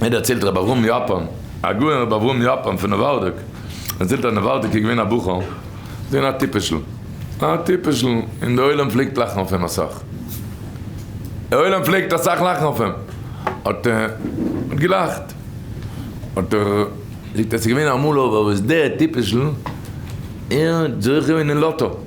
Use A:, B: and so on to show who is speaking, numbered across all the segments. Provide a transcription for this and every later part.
A: ער דערציילט רבי אברהם יאפאן, הגאון רבי אברהם יאפאן פון נאווארדאק, דערציילט אז נאווארדאק איז געווען א בחור, איז געווען א טיפש'ל, א טיפש'ל, און די עולם פלעגט לאכן אויף אים אסאך, די עולם פלעגט אסאך לאכן אויף אים, האט ער געלאכט, האט ער, זאגט ער, ס'איז געווען אמאל אבער וואס דער טיפש'ל, ער האט זוכה געווען אין לאטא.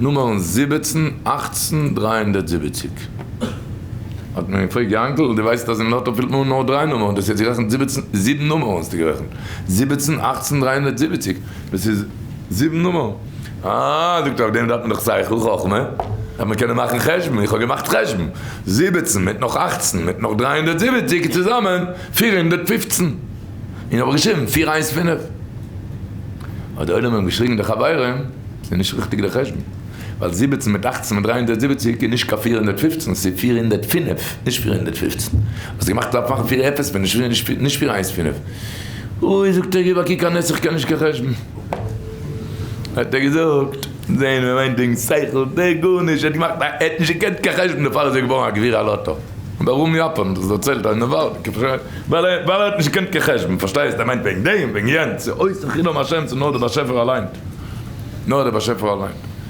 A: נומערן זיבעצן, אַכצן, דרײַ הונדערט זיבעציק. האט מען געפרעגט, יאנקל, דו ווייסט אז אין לאטא פילט מען אן נאר דריי נומערן, דאס איז יעצט גערעכנט זיבעצן, זיבן נומערן האסטו גערעכנט, זיבעצן, אַכצן, דרײַ הונדערט זיבעציק, דאס איז זיבן נומערן. אה, זאגט ער, אויף דעם דארף מען דאך שכל, חכמה, דארף מען קענען מאכן חשבון, איך האב געמאכט חשבון, זיבעצן מיט נאך אַכצן מיט נאך דרײַ הונדערט זיבעציק איז צוזאמען פֿיר הונדערט פֿופֿצן, און איך האב געשריבן פֿיר איינס פינף. האט די עולם אים געשריגן די חברים. ס'איז נישט ריכטיג די חשבון, ווייל זיבעצן מיט אַכצן מיט דרײַ הונדערט זיבעציק איז נישט קיין פֿיר הונדערט פֿופֿצן, ס'איז פֿיר הונדערט פֿינף, נישט פֿיר הונדערט פֿופֿצן. האסט געמאכט דארף מאכן פֿיר אפס פון נישט פֿיר, נישט פֿיר איינס פֿינף. אוי זאגט ער גיב א קוק א נס איך קען נישט קיין חשבון. האט ער געזאגט, זעהן ווען מיין דינג שכל, דער גארנישט, ער האט געמאכט א, ער האט נישט געקענט קיין חשבון דערפאר איז ער געווארן א גביר על אטא. דרום יאפאן, דאס דערציילט ער אין די ווארט. ווייל ער האט נישט געקענט קיין חשבון, פארשטייסט? ער מיינט וועגן דעם, וועגן יענץ, ס'איז אויסער חילול השם צו נאר די באשעפער אליין, נאר די באשעפער אליין.